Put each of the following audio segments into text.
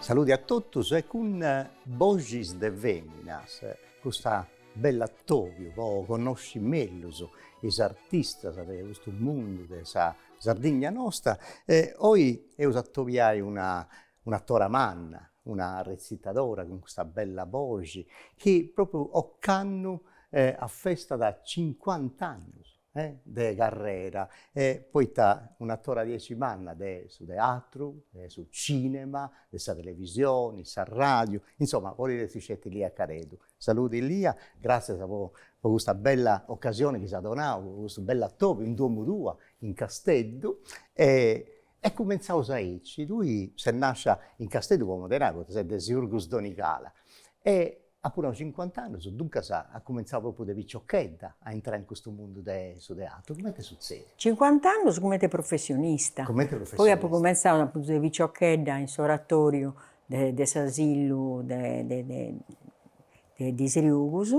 Saludi a totus e cun boxis de feminas custu bell'atobiu po connosci mellus is artistas de custu mundu de sa Sardigna nosta e oi eus a atobiai una un'atora manna, una retzitadora cun custa bella boxi chi propriu ocannu afestat cincuant'annus de carrera e poita un'atora diaici manna de su teatru, de su cinema, de sa televisioni, sa radiu, insoma podit essi sceti Lia Careddu. Saludi Lia, gratzias po po custa bella ocasioni chi s'as donau, po custu bell'atobiu in domu tua in Casteddu e E cumentzaus aici, tui ses nàscia in Casteddu, po modu de nai, poita ses de Siurgus Donigala, e apu nau cincuant'annus, duncas as cumentzau propriu de piciochedda a intrai in custu mundu de su teatru, cumenti est sutzèdiu? Cincuant'annus cumenti professionista. Cumenti professionista. Poi apu cumentzau, apuntu de piciochedda, in s'oratoriu de s'asillu de Sriugus,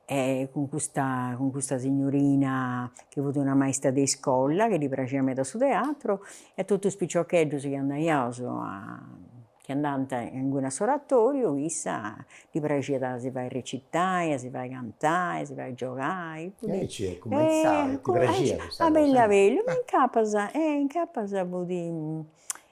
e cun custa cun custa signorina chi fut una maista de iscola chi ddi praxiat meda su teatru e totu is piciocheddus chi andaiaus chi andant inguni a s'oratoriu issa ddi praxiat a si fai recitai, a si fai cantai, a si fai giogai, e aici est cumenzau, ti praxiat custa cosa? Abellu abellu, ma incapas, e incapas fut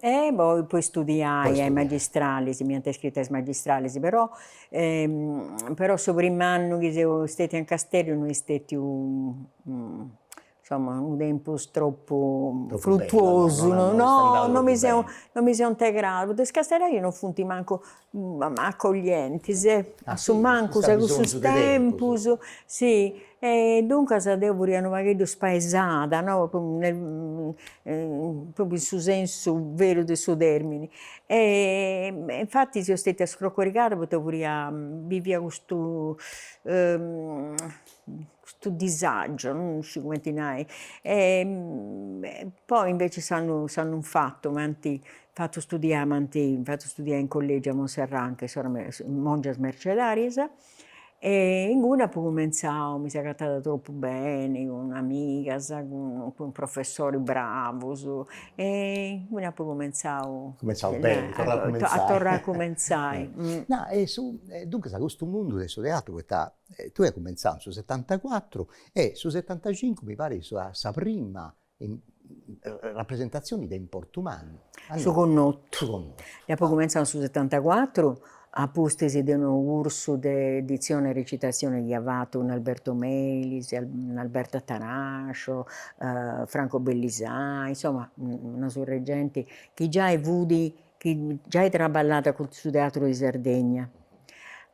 E poi po istudiai a is magistralis, m'ant iscritu a is magistralis, però però su prim'annu chi seu stetia in Casteddu no est stetiu insomma unu tempus tropu frutuosu, no no mi seu no mi seu integrada, poita is casteddaius non funt mancu accoglientis e a su mancus a cussus tempus si e duncas deu furia unu pagheddu spaesada no propriu in su sensu veru de su termini e e infattis seu stetia scrocorigada poita furia bivia custu custu disagio, non sciu cumenti nai, poi invece s'annu s'annu fatu m'ant fatu studiai, m'ant fatu studiai in collegiu a Monserrau anche is soras mongias mercedarias e inguni apu cumenzau, mi seu agatada tropu beni cun amigas, cun cun professoris bravus e inguni apu cumenzau a torrai a cumenzai. Duncas custu mundu de su teatru poita E tue cumenzau in su setantacuatru e su setantacincu mi parit sa sa prima rapresentazioni de importu mannu. Su connottu. Su connottu. Deu apo cumenzau in su setantacuatru a pustis de unu cursu de dizione e recitazione chi ia fatu cun Alberto Melis, Alberto Atanascio, Franco Bellisai, insoma una surra 'e genti chi giai fudi chi giai traballàt cun su Teatru de Sardegna.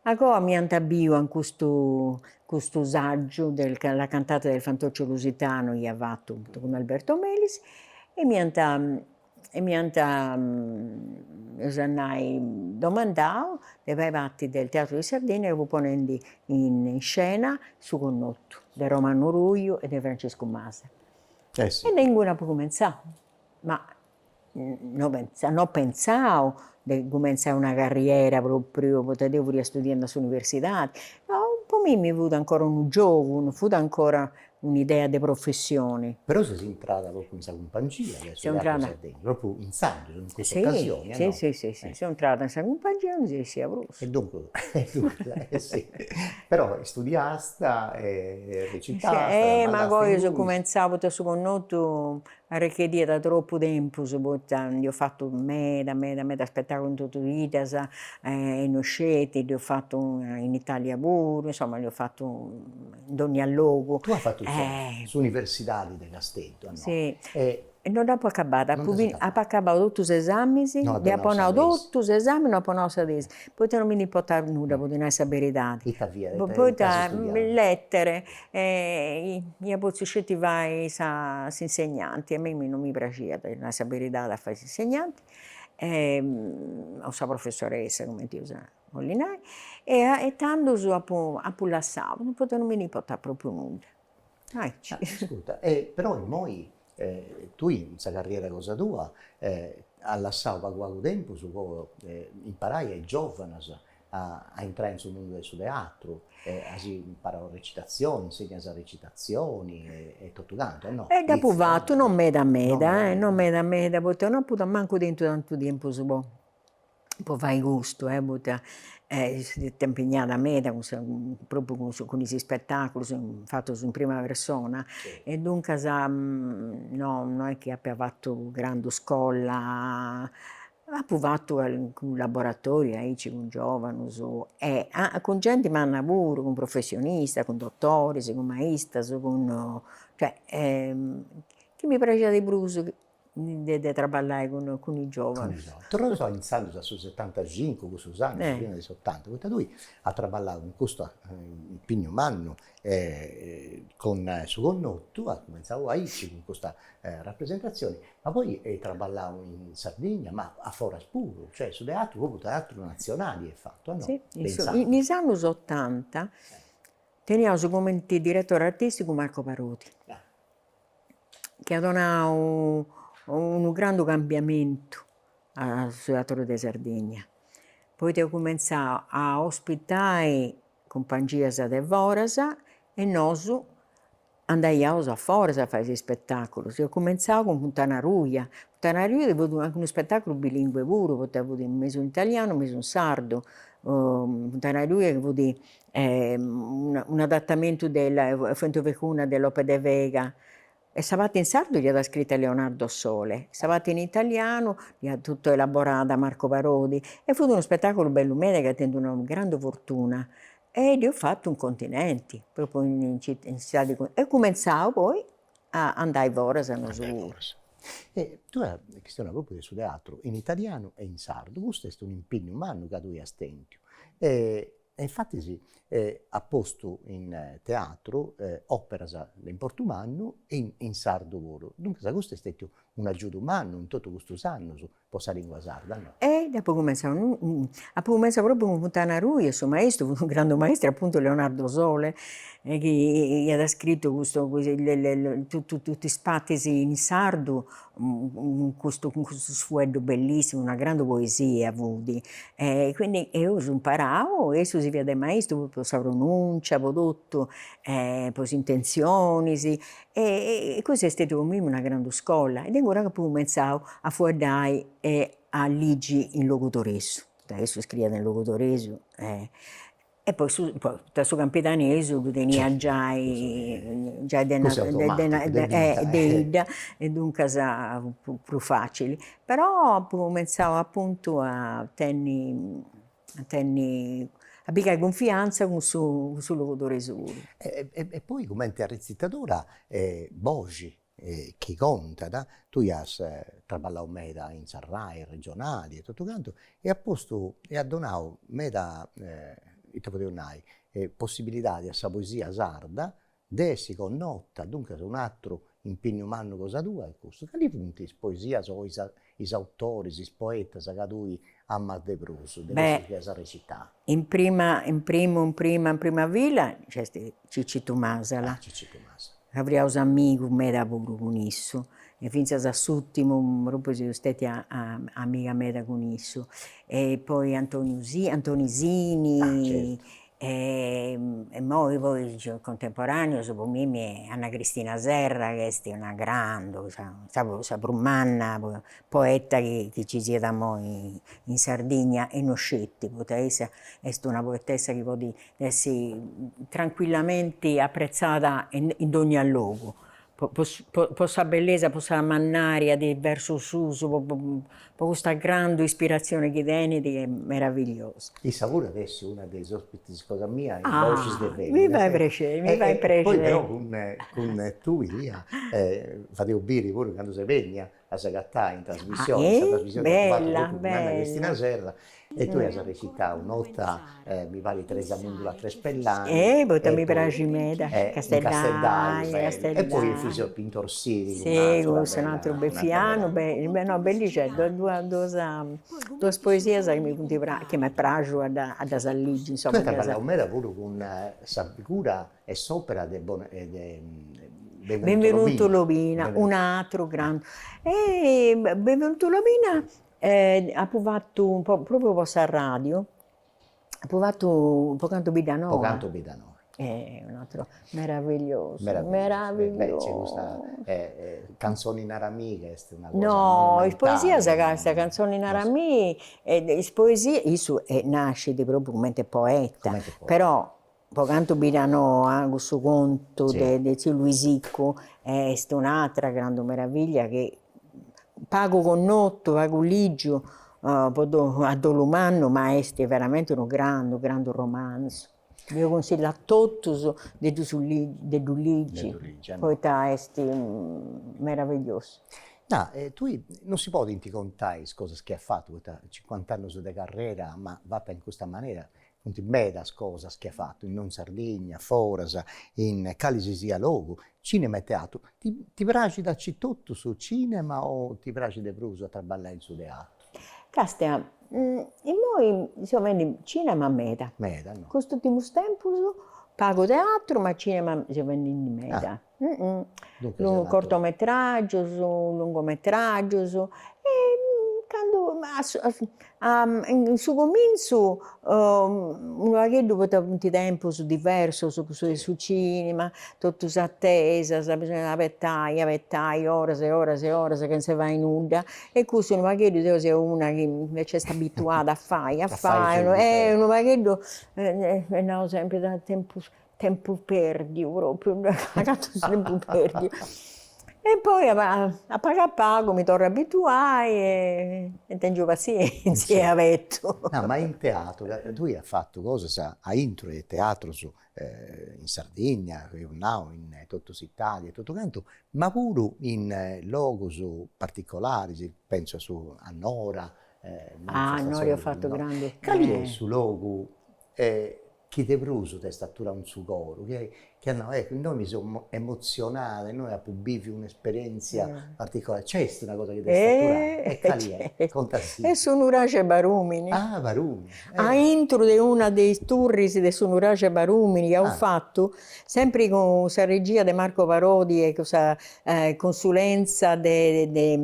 Agoa mi ant biu a custu custu saggiu de la cantata del fantoccio lusitano chi ia fatu cun Alberto Melis e mi ant e mi ant eus a nai domandau de fai parti del Teatro di Sardegna ca fut ponendi in scena su connotu de Romano Ruju e de Francescu Masala. E de inguni apu cumentzau, ma no pentzamu de cumentzai una carriera propriu, poita deu furia studiendu a s'universidadi, po mimmi fut ancora unu giogu, no fut ancora un'idea de professioni. Però ses intrada propriu in sa cumpangia de su Teatru Sardegna, propriu intzandus, in cussa ocasioni, no? Si si si, seu intrada in sa cumpangia e non seu essia prus. E duncus e si, però studiasta e recitasta, ma apu cumentzau poita su connotu Arrecheddiat troppu tempus poita dd'eus fatu meda meda meda spetaculu in totu is biddas e no sceti dd'eus fatu in Italia puru insoma dd'eus fatu in dogna logu. Tue as fatu s'universidadi de Casteddu a no? E no dd'apu acabada, apu apu acabau totus is esamis, ddi apu nau totus is esamis no apu nau sa tesi, poita no mi ndi importàt nudda po ddi nai sa beridadi, poita letere e ia potziu sceti fai sa s'insegnanti, a mimmi non mi praxiat, a nai sa beridadi, a fai s'insegnanti e o sa professoressa cumenti eus a nai e tandus apu apu lassau, poita non mi ndi importàt propriu nudda. Ascurta, e però immoi E tui in sa carriera cosa tua as lassau pagu pagu tempus po imparai a is giovanus a intrai in su mundu de su teatru e as imparau recitazioni, insegnas recitazioni e totu cantu e no? Dd'apu fatu, no meda meda, no meda meda, poita no apu mancu tentu tantu tempus po po fai custu e poita fui impignada meda cun sa propriu cun cun is ispetaculus fatus in prima persona e duncas no no est chi apia fatu grandu scola apu fatu cancu laboratoriu aici cun giovanus e cun genti manna puru cun professionistas cun dotoris cun maistas cun cioè chi mi praxiat de prus de de traballai cun cun is giovanus. Torraus a intzandus a su setantacincu, cussus annus, su fini de s'otanta, poita tui as traballau cun custu impignu mannu e cun Su Connotu as cumenzau a isci cun custa rapresentazioni, ma poi eis traballau in Sardigna, ma a foras puru, cioè su teatru, propriu teatru nazionali eis fatu, no? Si, in is annus otanta teniaus cumenti diretori artisticu Marco Parodi chi at donadu unu grandu cambiamentu a su teatru de Sardigna, poita eus cumentzau a ospitai cumpangias de foras e nosu andaiaus a foras a fai is ispetaculus, eus cumentzau cun Funtana Ruja, Funtana Ruja chi fut anche unu ispetaculu bilingue puru, poita fut mesu in italianu, mesu in sardu, Funtana Ruja chi fut un'adattamentu de la Fuente Ovejuna de Lope de Vega e sa parti in sardu dd'iat scrita Leonardo Sole e sa parti in italianu dd'iat totu elaborada Marco Parodi e fut unu spetaculu bellu meda chi at tentu una grandi fortuna e dd'eus fatu in continenti propriu in cittadi eus cumentzau poi a andai foras nosu puru. E tui a chistioni propriu de su teatru in italianu e in sardu custu est un'impignu mannu ca tui as tentu e E infatis as postu in teatru operas de importu mannu e in sardu puru, duncas custu est stetiu unu agiudu mannu in totu custus annus po sa lingua sarda, no? E apu cumenzau apu cumenzau propriu cun Funtana Ruja e su maistru fut unu grandu maistru apuntu Leonardo Sole chi iat scritu custu totu is partis in sardu cun custu cun custu fueddu bellissimu, una grandu poesia fudi e quindi eus imparau e issu si fiat de maistru po po sa pronuncia po totu e po is intenzionis e cussa est stetiu po mimmi una grandu scola e de inguni apu cumentzau a fueddai e a ligi in logudoresu, poita issu scriiat in logudoresu e E poi su poita su campidanesu ddu tenia giai giai de na de 'idda e duncas fut prus facili, però apu cumentzau apuntu a tenni a tenni a pigai cunfiantza cun su cun su logudoresu. E poi cumenti arretzitadora boxi chi contat, tui as traballau meda in sa Rai regionali e totu cantu e as postu e as donau meda ita podeus nai possibilidadi a sa poesia sarda de essi connota, duncas un'aturu impignu mannu cosa tua est custu. Cali funt is poesias o is is autoris, is poetas ca tui amas de prus, de cussus chi as recitau? In prima, in primu, in prima, in prima fila nc'est Cicitu Masala. Ah, Cicitu Masala. Fiaus amigus meda puru cun issu, e fintzas a s'ùrtimu propriu seu stètia amiga meda cun issu. E poi Antoni Sini, Antoni Sini. Ah, certu. e immoi poi is contemporaneus po mimi Anna Cristina Serra chi est una grandu sa sa sa prus manna poeta chi chi ci siat immoi in Sardigna e no sceti poita issa est una poetessa chi podit essi tranquillamenti apprezzada in in dogna logu po sa bellesa, po sa mannaria de is versus suus, po custa grandu ispiratzioni chi tenit chi est meravigliosa. Issa puru at a essi una de is ospitis cosa mia in Voces de Feminas. Mi fait prexeri, mi fait prexeri. Poi però cun tui Lia fadeus biri puru candu ses benia a s'agatai in trasmissioni, in sa trasmissioni chi apu fatu totu cun Anna Cristina Serra e tui as recitau un'otta mi parit Teresa Mundula Crespellani, poita mi praxit meda, casteddaia, e poi Efisio Pintor Sirigu, un'ateru beffianu, no, bellixeddas, duas poesias chi mi funt praxias, chi m'est praxiu a ddas ligi, insoma. Tui as traballau meda puru cun sa figura e s'opera de Benvenuto Lobina, un'atru grandu, de Benvenuto Lobina apu fatu po propriu po s'arradiu, apu fatu Po cantu Biddanoa. Po cantu Biddanoa. Est un'atru meravigliosu, meravigliosu. Canzoni Naramì est una cosa monumentali. No, is poesias ca, sa canzoni Naramì, is poesias, issu nascit propriu cumenti poeta, però Po cantu Biddanoa, cussu contu de tziu Luisicu est un'atra grandu meravillia chi pagu connotu, pagu ligiu a dolu mannu, ma est veramenti unu grandu grandu romanzu. Deu cunsillu a totus de ddu su de ddu ligi poita est meravigliosu. De tui non si podint contai is cosas chi as fatu, poita cincuant'annus de carrera, ma fata in custa manera, funt medas cosas chi as fatu, innoi in Sardigna, foras, in cali si siat logu, cinema e teatru. Ti ti praxit aici etotu su cinema o ti praxit de prus a traballai in su teatru? Càstia, innoi seu fendi cinema meda. Meda no. Custus ùrtimus tempus pagu teatru ma cinema seu fendi meda. cortometràgios, lungometràgios e cando in su comintzu unu pagheddu poita funt tempus diversus cussu de su cinema, totu s'atesas, bisòngiat a abetai, abetai oras e oras e oras chentza 'e fai nudda e custu unu pagheddu deu seu una chi invecias est abituada a fai a fai e unu pagheddu ddu nau sempri ca tempus Tempus pèrdiu pròpriu, agatu su tempus pèrdiu. E poi a a pagu a pagu mi torru a abituai e tèngiu passièntzia e abetu. No, ma in teatru, tui as fatu cosas aintru 'e teatrus in Sardigna, eus nau in totu s'Italia e totu cantu, ma puru in logus particolaris, pentzu a su a Nora. Ah, a Nora eus fatu grandus. Cali est su logu Chi de prus t'est aturau in su coru, chi chi as nau, eccu, innoi mi seu emotzionada, innoi apu bìviu un'esperièntzia particolari. Nc'est una cosa chi t'est aturau? E cali est? Contasì. Est su nuraxi 'e Barùmini. Ah, Barùmini. A intro de una de is turris de su nuraxi 'e Barùmini chi apu fatu, Sempri cun sa regia de Marco Parodi e cun sa consulentza de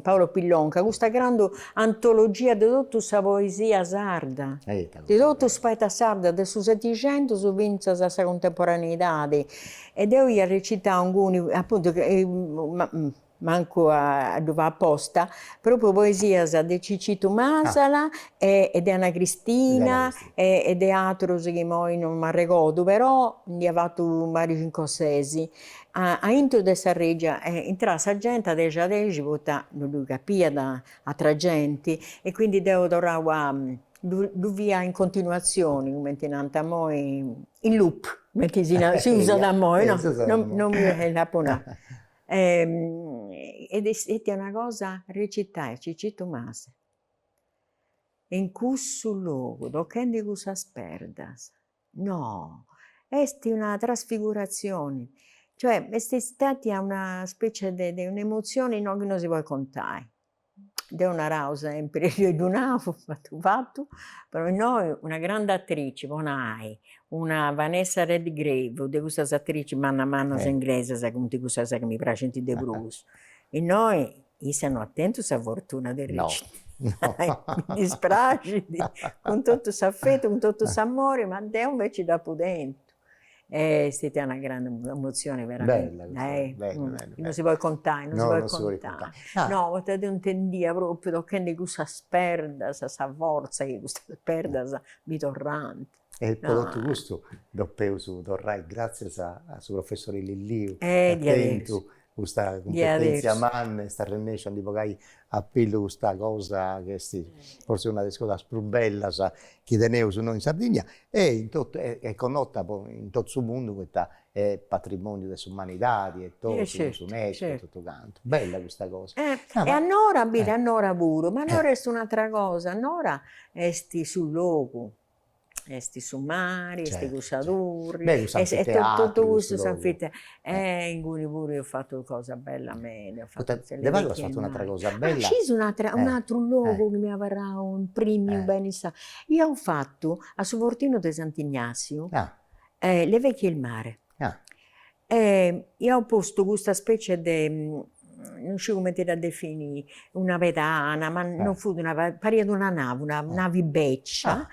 Paolo Pillonca, custa grandu antologia de totu sa poesia sarda, de totus is poetas sardus de su Setixentus fintzas a sa cuntemporaneidadi e deu ia recitau inguni, apuntu, mancu a ddu fai aposta, propriu poesias de Cicitu Masala e de Ana Cristina e de atrus chi imoi non m'arregodu, però nd'ia fatu mancai cincu o sesi, aintru de sa regia e intràt sa genti a dexi a dexi poita non ddu capiat atra genti e quindi deu torraia a ddu, ddu faia in continuazioni cumenti nant imoi, in loop cumenti si usat imoi no, non mi ndi apu nau Ed est stètia una cosa recitai Cicitu Masala in cussu logu tocchendi cussas perdas no esti una trasfiguratzioni cioè est istatia una specie de un'emozioni no chi no si podit contai Deu nau sempri, deu ddu nau fatu fatu, però innoi una grande attrici po nai una Vanessa Redgrave, de cussas attrici mannas mannas inglesas, funt cussas chi mi praxint de prus, innoi issa no at tentu sa fortuna de recitai, mi dispraxit, cun totu s'afetu, cun totu s'amori, ma deu inveci dd'apu tenta. È stata una grande emozione veramente, non si podit contai, non si podit contai, no poita deu intendia propriu tochendi cussas perdas sa forza chi cussas perdas mi torrant. E po totu custu depeus torrai gratzias a su professori Lilliu, ca tentu custa cumpetèntzia manna est arrennèsciu a ndi bogai a pillu custa cosa chi est forsis una de is cosas prus bellas chi teneus innoi in Sardigna e in totu est connota po in totu su mundu poita est patrimòniu de s'umanidadi e totu cun s'Unesco e totu cantu. Bella custa cosa. E a Nora, biri a Nora puru, ma Nora est un'atera cosa, Nora est su logu, Est su mari, est cussa turri, est totu custu s'anfiteatru, e inguni puru eus fatu cosa bella meda, de pagu as fattu un'atera cosa bella, scis un'atera un'atru logu chi m'est abarrau imprimiu beni sa, iaus fattu a su fortinu de Sant'Ignasiu, le vecchie e il mare E iaus postu custa specie de, non sciu cumenti dda definii, una pedana, ma non fut una pedana, pariat una navi, una navi beccia,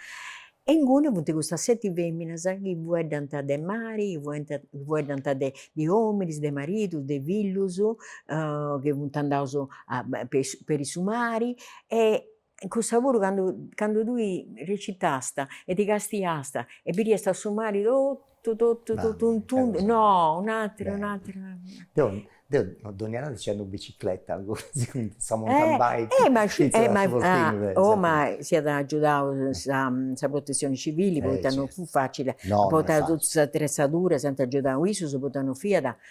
e inguni funt custas seti feminas chi fueddant de mari, chi fueddant de mari, chi fueddant de de ominis, de maridus, de fillus, chi funt andaus a peri su mari e In cussa puru candu candu tui recitàst e ti castiast e biriast su mari totu totu totu in tundu, no, un'atera un'atera. Deu deu dònnia notti nci andu in bicicleta cun sa mountain bike, e ma oh ma s'iat agiudau sa sa protezioni civili poita non fut facili, no, no, no, poita totu s'atrezzadura s'iant agiudau issus poita non fiat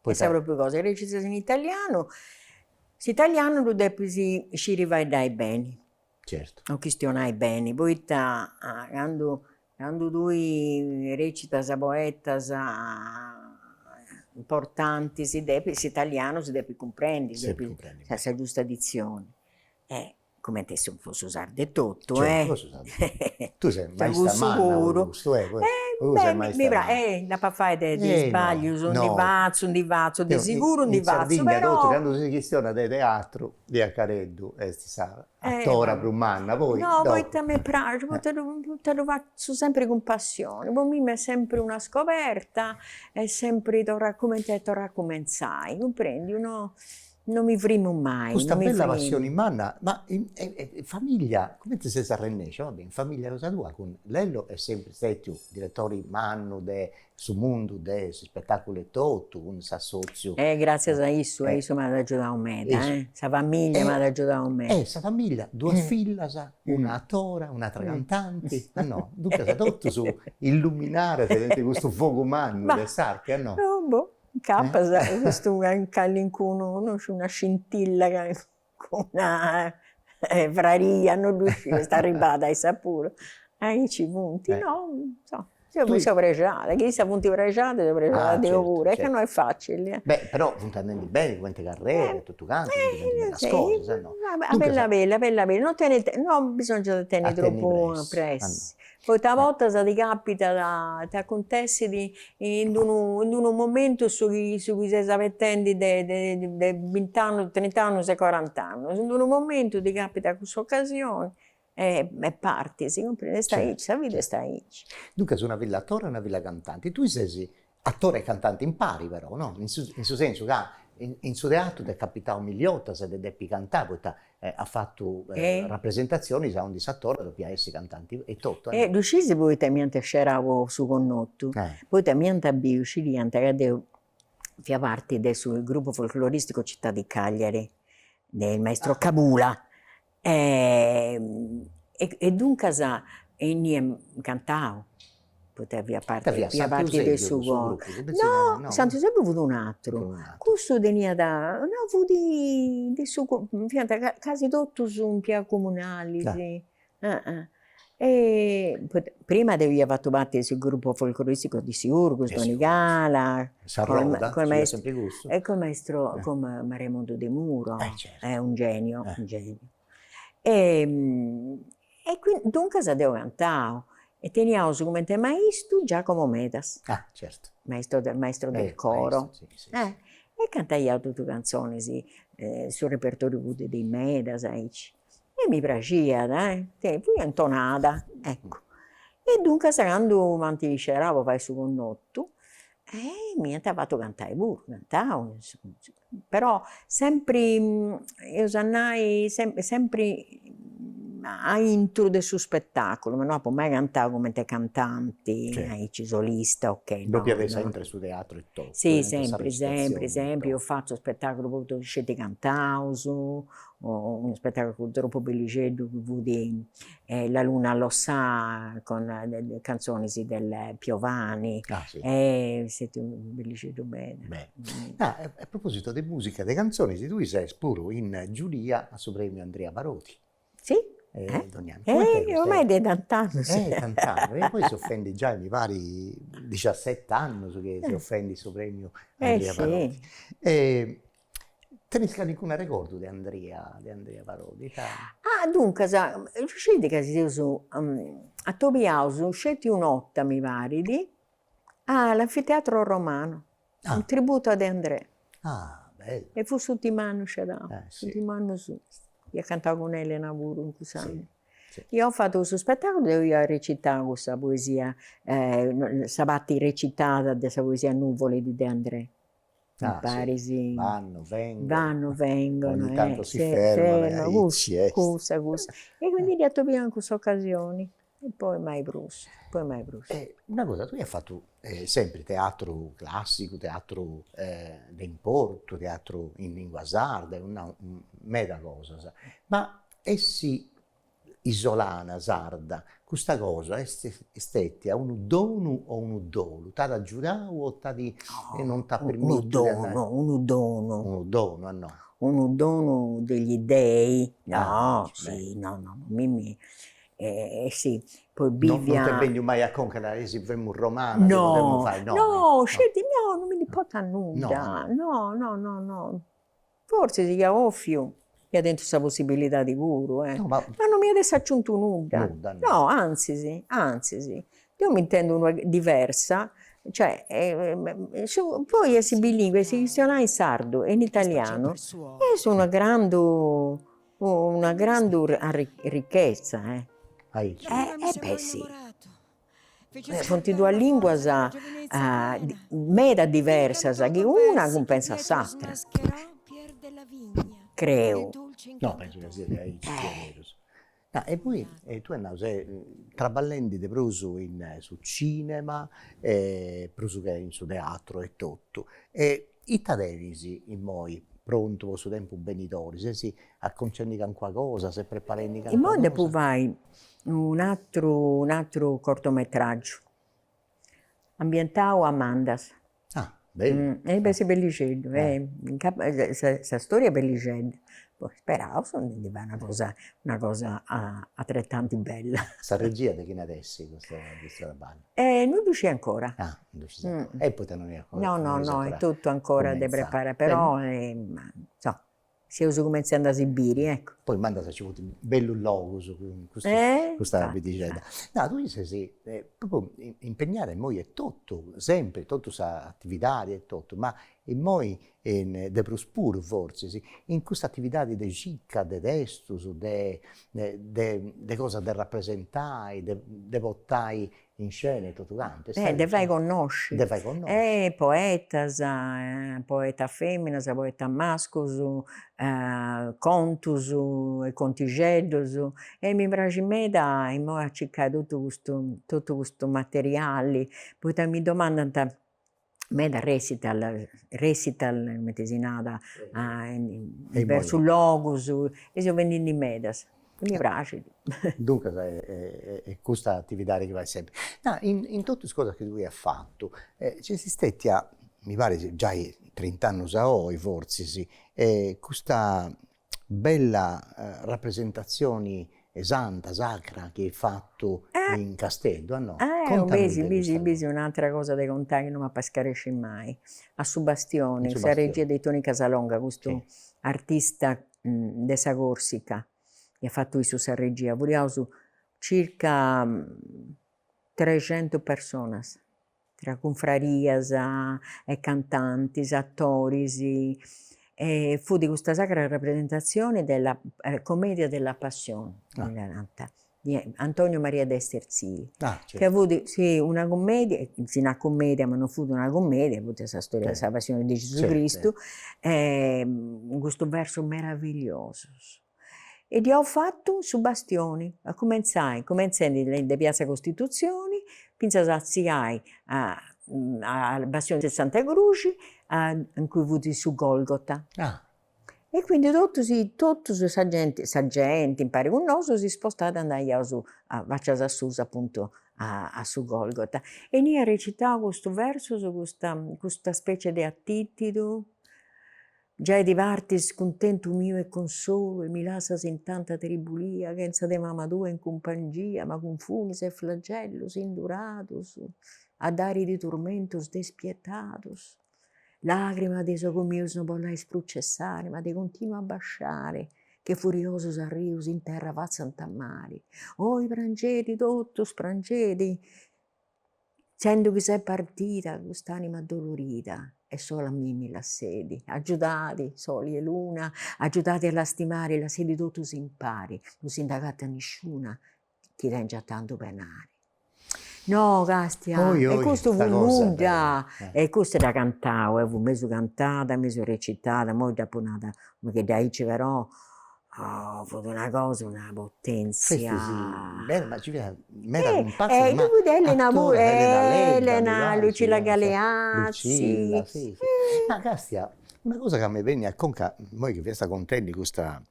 Poita. Sa propriu cosa, recitas in italianu, s'italianu ddu depis sciri fueddai beni. Certu. O chistionai beni, poita candu candu tui recitas poetas importantis depis s'italianu si depit cumprendi. S'est cumprendi. Sa giusta ditzioni e comente chi fessit su sardu etotu e tui ses maista manna puru in custu e puru ses maista manna e nd'apo a fai de isbaglius ndi fatzu ndi fatzu de siguru ndi fatzu però in Sardigna totu candu si chistionat de teatru Lia Careddu est sa atora prus manna poi no poita mi praxit poita poita ddu fatzu sempri cun passioni po mimi est sempri una scoberta est sempri torrai comente torrai a cumentzai cumprendi uno No mi frimu mai. Custa bella passioni in manna, ma in famiglia comente ses arrennesciu, va bè, in famiglia cosa tua cun Lello est sempri stetiu diretori mannu de su mundu de s'ispetaculu etotu, cun s'assoziu. E gratzias a issu e issu m'at agiudau meda, sa famiglia m'at agiudau meda. E sa famiglia, duas fillas, una atora, un'atra cantanti, a no? Duncas totus illuminadas de custu fogu mannu de s'arte, a no? Boh Incapas custu callincunu no sciu una scintilla calincuna fraria no ddu sciu est arribada a issas puru aici funt no insoma deu mi seu prexada chi issas funt prexadas seu prexada deu puru e ca no est facili e. Beh però funt andendi beni cumenti carrera e totu cantu funt fendi medas cosas e no. Bella bella bella bella no tenit no bisòngiat a tenni tropu pressa Poita a bortas ti capitat, t'acuntessit in d'unu in d'unu momentu su chi su chi ses abetendi de de de bint'annus trint'annus e cuarant'annus, in d'unu momentu ti capitat cuss'ocasioni e e partis, cumprendis, est aici, sa vida est aici. Duncas una filla atora e una filla cantanti, tui ses Atora e cantanti impari però no, in su in su sensu ca in su teatru t'est capitau milli 'otas de depi cantai poita as fatu rapresentazionis aundi s'atora depiat essi cantanti etotu. E ddu sciis poita m'iant scerau a su connotu, poita m'iant biu, scidiant ca deu fia parti de su gruppu folkloristicu Città di Cagliari de il maestro Cabula, E duncas emu cantau, poita fia parti fia parti de su coro, no Santu Eusèbiu fut un'àteru, cussu teniat, no fut de su fiant casi totus impiegaus comunalis prima deu ia fatu parti 'e su gruppu folcloristicu de Siurgus, Donigala, col maestro e col maestro cun Raimondo De Muro, è un genio, un genio e qui duncas deu cantàu e teniaus comente maistu Giacomo Medas, maisto de maestro del coro e cantaiaus totu canzones su repertoriu puru de is Medas aici e mi praxiat e fui intonada, eccu. E duncas candu m'ant iscerau po fai su connotu m'ant fatu cantai puru, cantau in su però sempri eus a nai sempri a intro de su spettaculu, ma no apu mai cantau cumenti cantanti aici solista o che, no no. Depiat essi sempri su teatru e totu. Si sempri sempri sempri eus fatu spettaculus puru sceti cantaus unu spettaculu tropu bellixeddu chi fut La luna lo sa con canzonis del Piovani est stetiu bellixeddu meda. Ah a proposito de musica de canzonis tui ses puru in giuria a su premiu Andrea Parodi. Si ormai de tant'annus. Eh tant'annus e poi seus fendi giai mi parit diciaset'annus chi seus fendi su premiu Andrea Parodi Tenis calincunu arregordu de Andria de Andria Parodi ita. Ah duncas sceti ca si seus atobiaus sceti u' 'orta mi parit a l'anfiteatro romanu, u' tributo a De Andrè. Ah bellu. E fut s'urtimu annu scerau, s'urtimu annu suu. Iat cantau cun Elena puru in cussa. Si si. Ia fatu cussu spettaculu deu ia recitau cussa poesia sa parti recitata de sa poesia Nuvole di De Andrè. mi parit si, vanno, vengono, vanno, vengono, ogni tanto si fermano, cussu, cussa, cussa, e quindi dd'ia atobiau in cussa ocasioni e poi mai prus, poi mai prus. E una cosa, tui as fatu sempri teatru classicu, teatru de importu, teatru in lingua sarda, meda cosas, ma essi isolana sarda, custa cosa est stetia unu donu o unu dolu? T'at agiudau o t'at e non t'at permitiu de andai? No, unu donu, unu donu. Unu donu, unu donu degli dei, no, si, no, no, no, mimì, e si, poi bivia. Non t'est benniu mai a conca de nai, si femu romana podemu fai, no. No, sceti, no, non mi ndi importat nudda, no, no, no, no, Fortzis chi ia ofiu ia tentu sa possibilidadi puru, e. No, ma. Ma no m'iat essi aciuntu nudda. Nudda, no. No, antzis, antzis. Deu m'intendu unu pagu diversa, cioè, su, poi essi bilingue, essi chistionai in sardu e in italianu, est una grandu, una grandu arrichetza, eh. Aici. Eh, e beh, si. Funt duas lìnguas meda diversas chi una cumpentzat s'atra, creu. No, pensu ca siat aici diaderus. E poi tui as nau ses traballendi de prus in su cinema e prus che in su teatru etotu e Ita tenis immoi prontu po su tempus benidori? Ses acconcendi cancuna cosa, ses preparendi cancuna cosa? Immoi depu fai un'atru un'atru cortometraggiu, ambientau a Mandas. Ah bellu. E beh est bellixeddu, sa storia est bellixedda, poi speraus de ndi fai una cosa una cosa atretanti bella. Sa regia de chini est custa custu traballu? E non ddu sciu ancora. Ah, non ddu scis ancora. E poita non est ancora. No no no, est totu ancora de preparai, però insoma, seus cumenzendi a si biri, eccu. Poi mandant nci funt bellus logus cun custu, cun custa pitixedda. No, tui ses propriu impegnada immoi e totu, sempri, totu s'atividadi e totu, ma immoi e de prus puru fortzis, in custa atividadi de circa de testus, de de cosas de rapresentai, de de portai in scena e totu cantu. E de fai connosci. De fai connosci. E poetas, poetas feminas, poetas mascus, contus e contixeddus, e mi praxit meda imoi a circai totu custu totu custu materiali, poita mi domandant meda resital, resital cumenti si narat diversus logus, e seu biendindi medas, e mi praxit. Duncas est custa atividadi chi fait sempri. Nau, in totu is cosas chi tui as fatu nc'est stetia, mi parit giai trint'annus a oi fortzis, custa bella rapresentatzioni santa, sacra, chi eis fatu in Casteddu, a no? Contami de custa cosa. Est un'atera cosa de contai chi no m'ap'a iscaresci mai, a su Bastioni, sa regia de Toni Casalonga, custu artista de sa Corsica, chi at fatu issu sa regia, furiaus circa trescentus personas tra cunfrarias e cantantis, atoris, fut custa sacra rapresentatzioni de la Commedia della Passione, ddi narant, de Antonio Maria de Esterzili, ca fut una cummedia, si narat cummedia ma non fut una cummedia, fut sa storia de sa passioni de Gesù Cristu, cun custus versus meravigliosus, e dd'iaus fatu su bastioni, a cumentzai, cumenzendi de piazza Costitutzioni fintzas a atziai a a bastioni de Santa Cruxi a in cui fut su Golgota. Ah. E quindi totus i totus sa genti, sa genti impari cun nosu si spostàt andaiaus a faccias a susu appuntu a a su Golgota. E ia recitau custu versus, custa custa specie de atitidu Giai ti partis cuntentu miu e consolu e mi lassas in tanta tribulia chentza de mama tua in cumpangia ma cun funis e flagellus induratus a dariti turmentus despietatus lagrima de is ogus mius no bollais prus cessari ma de continu abbasciari che furiosus arrius in terra fatzant mari oi prangedi totus prangedi Sendo chi s'est partida cust'anima addolorida e sola a mimi lassedi, agiudadi, soli 'e luna, agiudadi a lastimari, lassedi totus impari, no si nd'agattat nisciuna chi tengiat tantu penari. No Castia, e custu fut nudda, e custu dd'at cantau e fut mesu cantada, mesu recitada, imoi dd'apu nada, ma chi dd'aici però Oh fut una cosa una potenzia. Bella ma ci fiat meda cumparsa e ma attoras Elena Ledda, Lucilla Galeazzi, si si, ma Castia una cosa ca mi benniat a conca immoi chi fiast contendi custa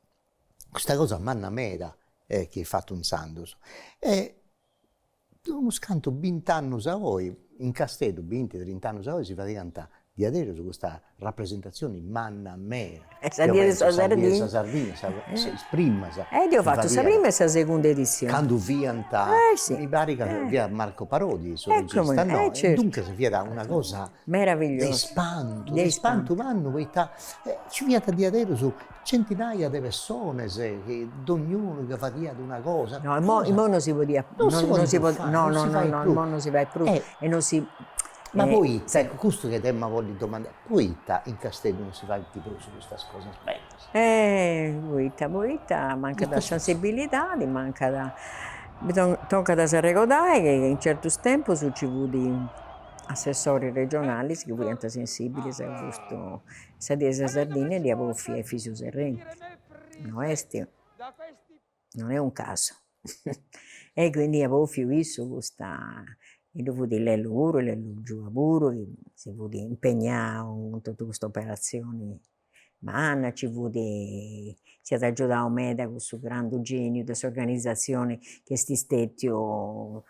custa cosa manna meda e chi est fatta intzandus e De unos cantu bint'annus a oi, in Casteddu, binti, trint'annus a oi, si fadiat diaderus custa rapresentatzioni manna meda. Sa die de sa Sardinna. Sa die de sa is primas. E deu apu fatu sa prima e sa segunda edizioni. Candu fiat, mi parit ca fiat Marco Parodi su regista, no? E duncas fiat una cosa de ispantu, de ispantu mannu, poita nci fiant diaderus Centinaia de personas chi dogn'unu chi fadiat una cosa. No imoi imoi no si podiat no si podit pius fai no no no no imoi no si fait prus e no si ma poita ecco custu chi t'emu a bolli domandai poita in Casteddu no si faint prus custas cosas bellas. Poita poita mancat sa sensibilidadi mancat tocat a s'arregodai chi in certus tempus nci fut assessoris regionalis chi fiant sensibilis a custu Sa die 'e sa Sardigna dd'iat bòfia Efisiu Serrenti, no est non est un casu e quindi iat bòfiu issu custa, e ddu fut Lellu puru, Lellu Giua puru chi si fut impegnau cun totu custa operatzioni manna, nci fut, s'at agiudau meda cussu grandu geniu de s'organizatzioni chi est stètiu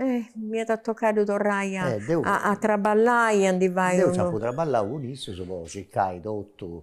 M'iat tocau torrai a a traballai e a ndi fai unu. Deu apu traballau cun issus po circai totu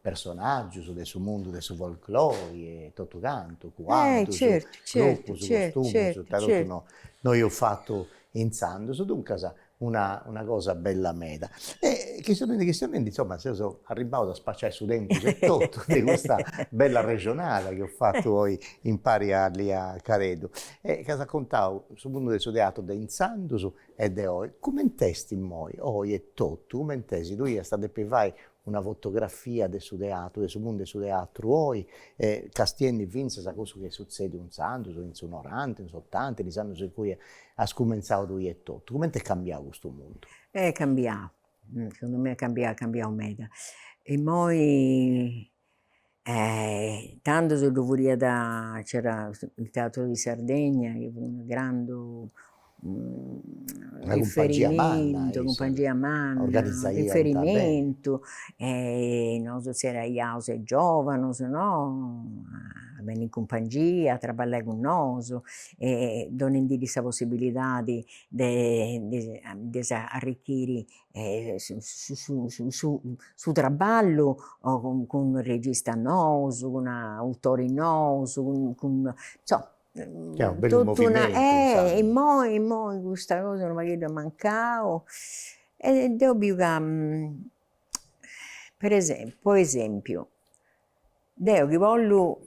personaggius de su mundu de su folklori e totu cantu, cuaddus, certu, costumus, ita totu no no eus fatu intzandus, duncas una una cosa bella meda e chistionendi chistionendi insomma seus arribbaus a spaciai su tempus e totu de custa bella arrexonada chi eus fatu oi impari a Lia Careddu e chi as acontau su mundu de su teatru de intzandus e de oi, cumenti est immoi, oi etotu, cumenti est, tui iast a depi fai una fotografia de su teatru, de su mundu 'e su teatru oi, e castiendi fintzas a cussu chi est sutzediu intzandus, in su noranta, in s'otanta, in is annus in cui as cumenzau tui etotu, cumenti est cambiau custu mundu? Est cambiau, segundu mei est cambiau, est cambiau meda, immoi tando ci ddu fudiat, c'era il teatro di Sardegna chi fut unu grandu riferimentu, cumpangia manna, riferimentu e nosu zerriaiaus is giovanus no, a benni in cumpangia, a traballai cun nosu e donendiddis sa possibilidadi de de si arricchiri su traballu cun registas nous, cun autoris nous, cun insoma totu una e immoi immoi custa cosa unu pagheddu at mancau e deu biu ca po esempiu po esempiu deu chi bollu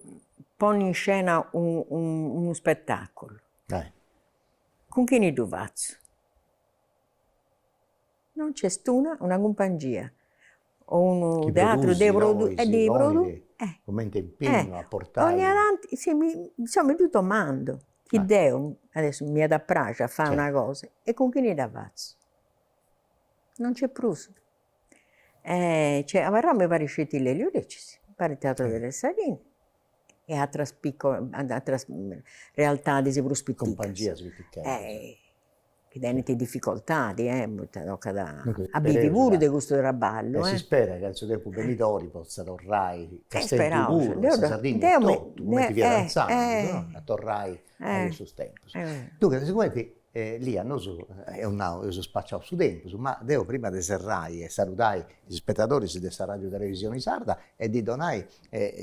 ponni in scena unu spettaculu cun chini ddu fatzu No nci est una, una cumpangia o unu teatru de produtzioni cumenti impignu a portai donnia tanti si mi insoma mi ddu domandu chi deu adesso m'iat a praxi a fai una cosa e cun chini dda fatzu. No nci est prus. Cioè est abarrau mi parit sceti Lelio Lecis, mi parit Teatro delle Saline e atras piccole atras realtadis prus piticas. Cumpangias piticas chi tenint difficoltadi e poita tocat a bivi puru de custu traballu. E s'isperat ca in su tempus benidori potza torrai Casteddu puru e sa Sardigna etotu, cumenti fiat antzanu no, a torrai a cussus tempus. Duncas sigumenti Lia nosu eus nau, eus spaciau su tempus, ma deu prima de serrai e saludai is ispetadoris de sa Radiu Televisioni Sarda e ddi donai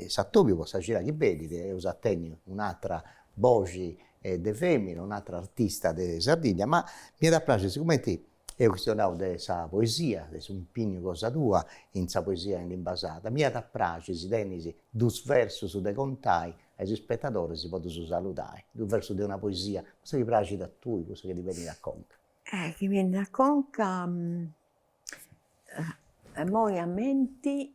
s'atobiu po sa cida chi benit, eus a tenni un'atra boxi de femina un'atra artista de Sardigna ma mi iat a praxiri sigumenti eus chistionau de sa poesia de s'impignu cosa tua in sa poesia in limba sarda mi iat a praxiri si tenis dus versus de contai a is ispetadoris si podus saludai dus versus de una poesia cussa chi praxit a tui cussa chi ti benit a conca. Chi mi benit a conca immoi a menti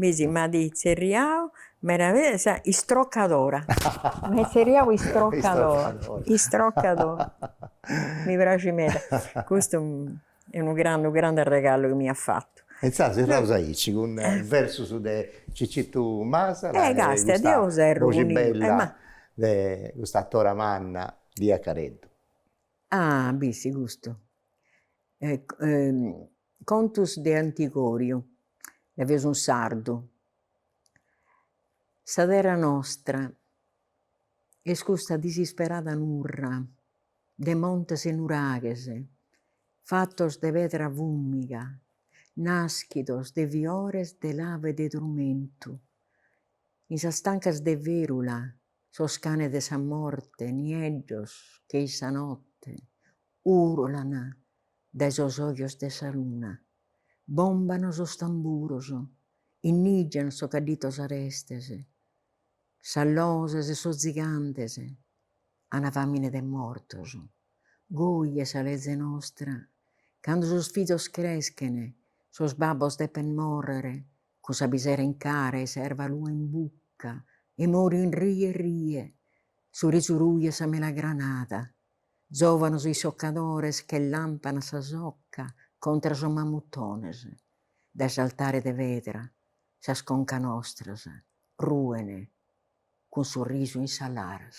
Mi si m'at tzerriau meravillosa istrocadora, m'at tzerriau istrocadora, istrocadora, mi praxit meda, custu est unu grandu grandu arregalu chi mi at fatu. E insaras serraus aici cun versus de Cicitu Masala e custa boxi bella de custa atora manna Lia Careddu. Ah, bissi custu Contus de Antigòriu, Làvinu sardu. Sa terra nostra est custa disisperada nurra de montes e nuraghes, fatos de pedra fùmiga, naschidos de fiores de lava e de trumentu, in sas tancas de ferula, sos canes de sa morte, nieddos che in sa notte urlan. Dae sos ojos de sa luna. Bomban sos tamburos, innigian sos cadditos arestes, sas loses e sos zigantes, ana famine de mortos. Goi est sa leze nostra, cando sos fizos creschen, sos babbos depen morrer cun sa pisera in cara e sa erva lua in bucca e morin rie rie, su risu ruju 'e sa melagranada. Zòvanos isocadores che làmpana sa soca contra sos mamutones dae s'altare de pedra sas concas nostras ruen cun su risu in sas laras.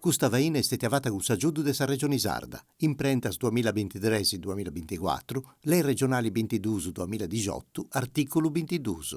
Custa faina est stètia fata cun s'agiudu de sa Regioni Sarda, Imprentas duamilla bintitres-duamilla binticuatru, Lei Regionali bintiduus-duamilla dixotu, artìculu bintiduus.